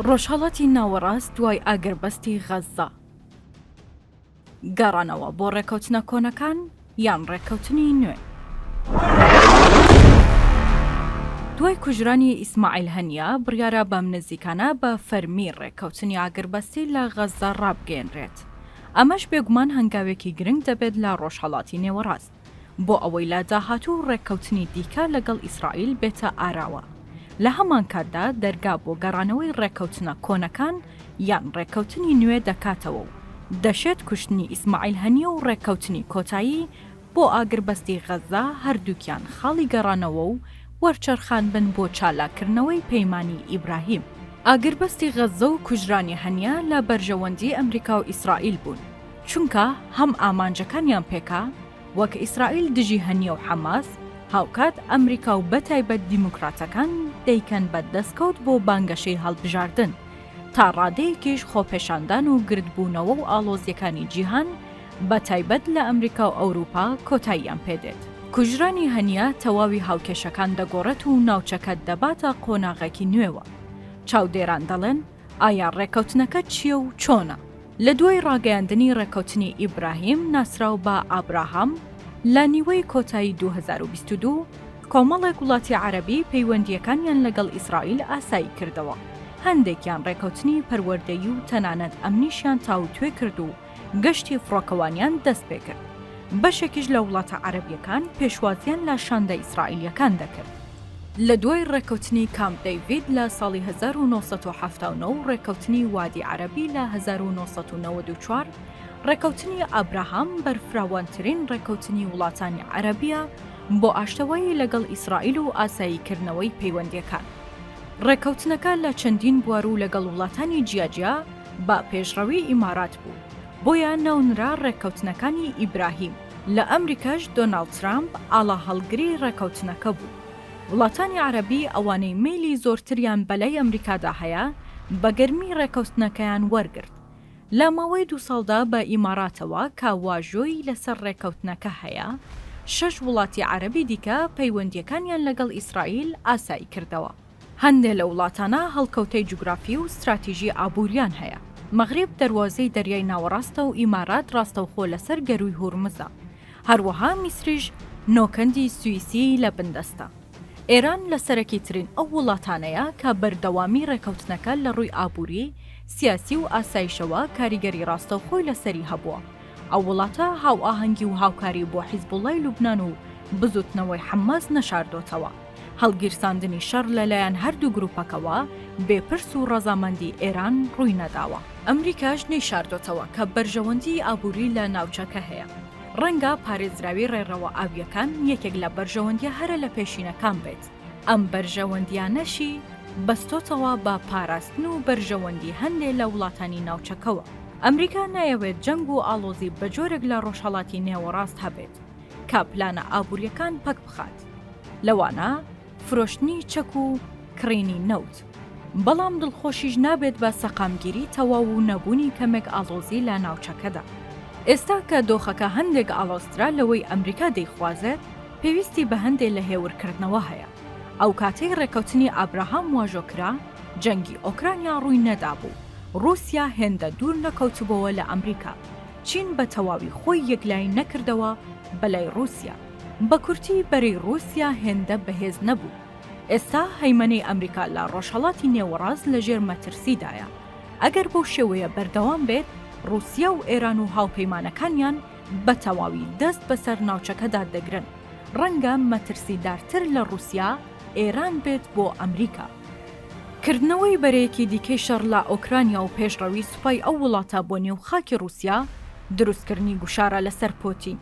ڕۆژهەڵاتی ناوەڕاست دوای ئاگربەستی غەززە گەڕانەوە بۆ ڕێکەوتنە کۆنەکان یان ڕێککەوتنی نوێ؟ دوای کوژرانی ئیسماعیل هەنیا بڕیارە بەم نزیکانە بە فەرمی ڕێککەوتنی ئاگربەستی لە غەززە ڕابگەیەنرێت، ئەمەش بێگومان هەنگاوێکی گرنگ دەبێت لە ڕۆژهەڵاتی نێوەڕاست. بۆ ئەوەی لە داهاتوو ڕێککەوتنی دیکە لەگەڵ ئیسرائیل بێتە ئاراوە، لە هەمانکاتدا دەرگا بۆ گەڕانەوەی ڕێککەوتنە کۆنەکان یان ڕێککەوتنی نوێ دەکاتەوە و دەشێت کوشتنی ئیسماعیل هەنیە و ڕێککەوتنی کۆتایی بۆ ئاگربەستی غەززە هەردووکیان خاڵی گەڕانەوە و وەرچەرخان بن بۆ چالاککردنەوەی پەیمانی ئیبراهیم. ئاگربەستی غەززە و کوژرانی هەنیە لە بەرژەوەندی ئەمریکا و ئیسرائیل بوون، چونکە هەم ئامانجەکانیان پێکا وەک ئیسرائیل دژی هەنیە و حەماس، هاوکات ئەمریکا و بەتایبەت دیموکراتەکان دەیکەن بە دەسکەوت بۆ بانگەشەی هەڵبژاردن، تا ڕادەیەکیش خۆپێشاندان و گردبوونەوە و ئاڵۆزییەکانی جیهان بەتایبەت لە ئەمریکا و ئەوروپا کۆتاییان پێدێت. کوژرانی هەنیە تەواوی هاوکێشەکان دەگۆڕێت و ناوچەکە دەباتە قۆناغێکی نوێوە. چاودێران دەڵێن، ئایا ڕێککەوتنەکە چییە و چۆنە؟ لە دوای ڕاگەیاندنی ڕێککەوتنی ئیبراهیم ناسراو بە ئابراهام لە نیوەی کۆتایی دوو هەزار و بیست و دوو، کۆمەڵێک وڵاتی عەرەبی پەیوەندییەکانیان لەگەڵ ئیسرائیل ئاسایی کردەوە، هەندێکیان ڕێککەوتنی پەروەردەیی و تەنانەت ئەمنیشیان تاووتوێ کرد و گەشتی فڕۆکەوانیان دەست پێ کرد، بەشێکیش لە وڵاتە عەرەبییەکان پێشوازییان لە شاندە ئیسرائیلییەکان دەکرد. لە دوای ڕێککەوتنی کامپ دەیڤید لە ساڵی هەزار و نۆ سەد و حەفتا و نۆ و ڕێککەوتنی وادی عەرەبی لە هەزار و نۆ سەد و نەوەد و چوار، ڕێککەوتنی ئابراهام بەرفراوانترین ڕێککەوتنی وڵاتانی عەرەبییە بۆ ئاشتەوایی لەگەڵ ئیسرائیل و ئاساییکردنەوەی پەیوەندییەکان. ڕێککەوتنەکە لە چەندین بوار و لەگەڵ وڵاتانی جیاجیا بە پێشڕەوی ئیمارات بوو، بۆیە ناونرا ڕێککەوتنەکانی ئیبراهیم. لە ئەمریکاش دۆناڵد ترامپ ئاڵاهەڵگری ڕێکەوتنەکە بوو. وڵاتانی عەرەبی ئەوانەی مەیلی زۆرتریان بەلای ئەمریکادا هەیە، بە گەرمی ڕێکەوتنەکەیان وەرگرت. لە ماوەی دوو ساڵدا بە ئیماراتەوە کە واژۆی لەسەر ڕێکەوتنەکە هەیە، شەش وڵاتی عەرەبی دیکە پەیوەندییەکانیان لەگەڵ ئیسرائیل ئاساییکردەوە. هەندێ لە وڵاتانە هەڵکەوتەی جوگرافی و ستراتیژی ئابووریان هەیە، مەغریب دەروازەی دەریای ناوەڕاستە و ئیمارات ڕاستەوخۆ لەسەر گەرووی هورمزە. هەروەها میسریش نۆکەندی سویسی لە بندەستە. ئێران لە سەرەکیترین ئەو وڵاتانەیە کە بەردەوامی ڕێکەوتنەکە لە ڕووی ئابووری، سیاسی و ئاسایشەوە کاریگەری ڕاستەوخۆی لەسەری هەبووە. ئەو وڵاتە هاوئاهەنگی و هاوکاری بۆ حیزبوڵڵای لوبنان و بزووتنەوەی حەمماس نەشاردۆتەوە. هەڵگیرساندنی شەڕ لەلایەن هەردوو گروپەکەوە بێ پرس و ڕەزامەندی ئێران ڕووی نەداوە. ئەمریکاش نەیشاردۆتەوە کە بەرژەوەندیی ئابووری لە ناوچەکە هەیە. ڕەنگە پارێزراوی ڕێڕەوە ئاوییەکان یەکێک لە بەرژەوەندییە هەرە لە پێشینەکان بێت، ئەم بەرژەوەندییانەشی بەستۆتەوە بە پاراستن و بەرژەوەندی هەندێ لە وڵاتانی ناوچەکەوە. ئەمریکا نایەوێت جەنگ و ئاڵۆزی بە جۆرێک لە ڕۆژهەڵاتی نێوەڕاست هەبێت. کە پلانە ئابوورییەکان پەکبخات، لەوانە فرۆشتنی چەک و کڕینی نەوت، بەڵام دڵخۆشیش نابێت بە سەقامگیری تەواو و نەبوونی کەمێک ئاڵۆزی لە ناوچەکەدا. ئێستا کە دۆخەکە هەندێک ئاڵۆزترە لەوەی ئەمریکا دەیخوازێت، پێویستی بە هەندێ لە هێورکردنەوە هەیە. ئەو کاتەی ڕێککەوتنی ئابراهام واژۆ کرا، جەنگی ئۆکرانیا ڕووی نەدابوو، ڕووسیا هێندە دوور نەکەوتبۆوە لە ئەمریکا، چین بە تەواوی خۆی یەکلایی نەکردەوە بە لای ڕووسیا. بە کورتی بەرەی ڕووسیا هێندە بەهێز نەبوو. ئێستا هەیمەنەی ئەمریکا لە ڕۆژهەڵاتی نێوەڕاست لە ژێر مەترسیدایە. ئەگەر بەو شێوەیە بەردەوام بێت، ڕووسیا و ئێران و هاوپەیمانەکانیان بە تەواوی دەست بەسەر ناوچەکەدا دەگرن. ڕەنگە مەترسیدارتر لە ڕووسیا، ئێران بێت بۆ ئەمریکا. کردنەوەی بەرەیەکی دیکەی شەڕ لە ئۆکرانیا و پێشڕەوی سوپای ئەو وڵاتە بۆ نێو خاکی ڕووسیا، دروستکردنی گوشارە لەسەر پۆتین،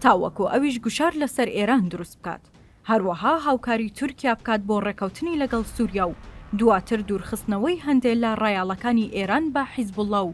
تاوەکو ئەویش گوشار لەسەر ئێران دروست بکات، هەروەها هاوکاری تورکیا بکات بۆ ڕێکەوتنی لەگەڵ سووریا و دواتر دوورخستنەوەی هەندێ لە ڕایەڵەکانی ئێران بە حیزبوڵڵا و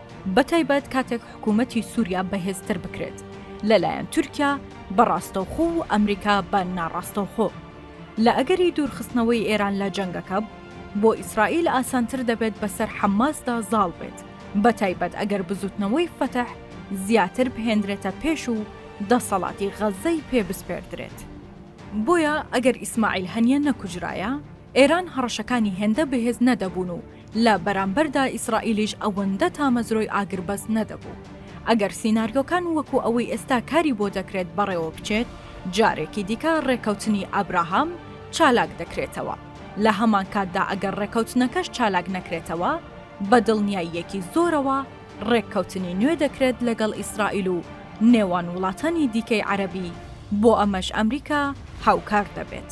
بەتایبەت کاتێک حکوومەتی سووریا بەهێزتر بکرێت لەلایەن تورکیا بە ڕاستەوخۆ و ئەمریکا بە ناڕاستەوخۆ لە ئەگەری دوورخستنەوەی ئێران لە جەنگەکە بۆ ئیسرائیل ئاسانتر دەبێت بەسەر حەمماسدا زاڵ بێت بە تایبەت ئەگەر بزوتنەوەی فەتح زیاتر بهێنرێتە پێش و دەسەڵاتی غەزەی پێ بسپێردرێت بۆیە ئەگەر ئیسماعیل هەنیە نەکوژرایە ئێران هەڕەشەکانی هێندە بەهێز نەدەبوون و لە بەرامبەردا ئیسرائیلیش ئەوەندە تامەزرۆی ئاگربەست نەدەبوو. ئەگەر سیناریۆکان وەکو ئەوەی ئێستا کاری بۆ دەکرێت بەڕێوە بچێت، جارێکی دیکە ڕێککەوتنی ئابراهام چالاک دەکرێتەوە. لە هەمانکاتدا ئەگەر ڕێککەوتنەکەش چالاک نەکرێتەوە، بە دڵنیاییەکی زۆرەوە ڕێککەوتنی نوێ دەکرێت لەگەڵ ئیسرائیل و نێوان وڵاتانی دیکەی عەرەبی، بۆ ئەمەش ئەمریکا هاوکار دەبێت.